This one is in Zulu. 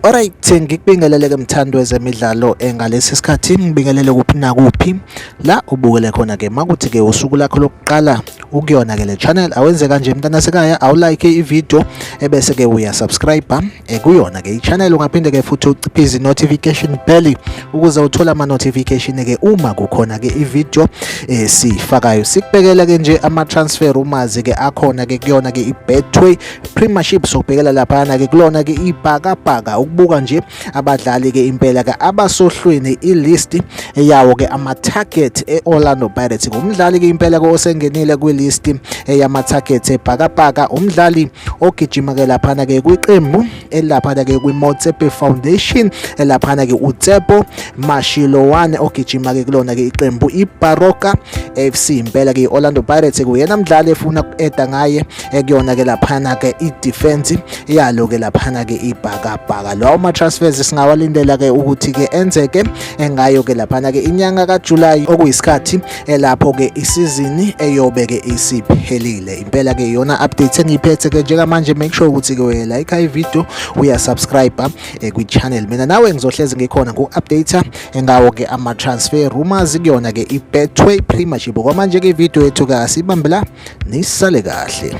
Alright ngikubingelele ke mthandi wezemidlalo eh, ngalesi sikhathi ngibingelele kuphi nakuphi la ubukele khona ke makuthi ke usuku lakho lokuqala ukuyona ke le channel awenze kanje mntana sekaya awulike ivideo ebese ke uya subscribe eh, kuyona ke ichannel ungaphinde ke futhi uciphize notification bell ukuze uthole ama notification ke uma kukhona ke ivideo eh, sifakayo sikubekela ke nje ama transfer umazi ke akhona ke kuyona ke ibetway premiership sokubhekela lapha ke kulona ke ibhakabhaka ukubuka nje abadlali ke impela ke abasohlwini ilist yawo ke ama target eOrlando Pirates ngumdlali ke impela ke osengenile kwilist yama target ebhakabhaka umdlali ogijima ke laphana ke kwiqembu elaphana ke kwiMotsepe Foundation elaphana ke uTsepo Mashilowane ogijima ke kulona ke iqembu iBaroka FC impela ke iOrlando Pirates kuyena mdlali efuna ukueda ngaye ekuyona ke laphana ke i-defense yalo ke laphana ke ibhakabhaka lawo ma-transfers singawalindela ke ukuthi ke enzeke engayo ke laphana ke inyanga kajulayi okuyisikhathi elapho ke isizini eyobe ke isiphelile impela ke yona update engiyiphethe ke njengamanje make sure ukuthi ke uyayilike ivideo uyasubscribe eh, kwi-channel mina nawe ngizohlezi ngikhona ku-update engawo ke ama-transfer rumors kuyona ke ibetway premiership kwamanje ke ivideo yethu ke asibambe la Nisale kahle.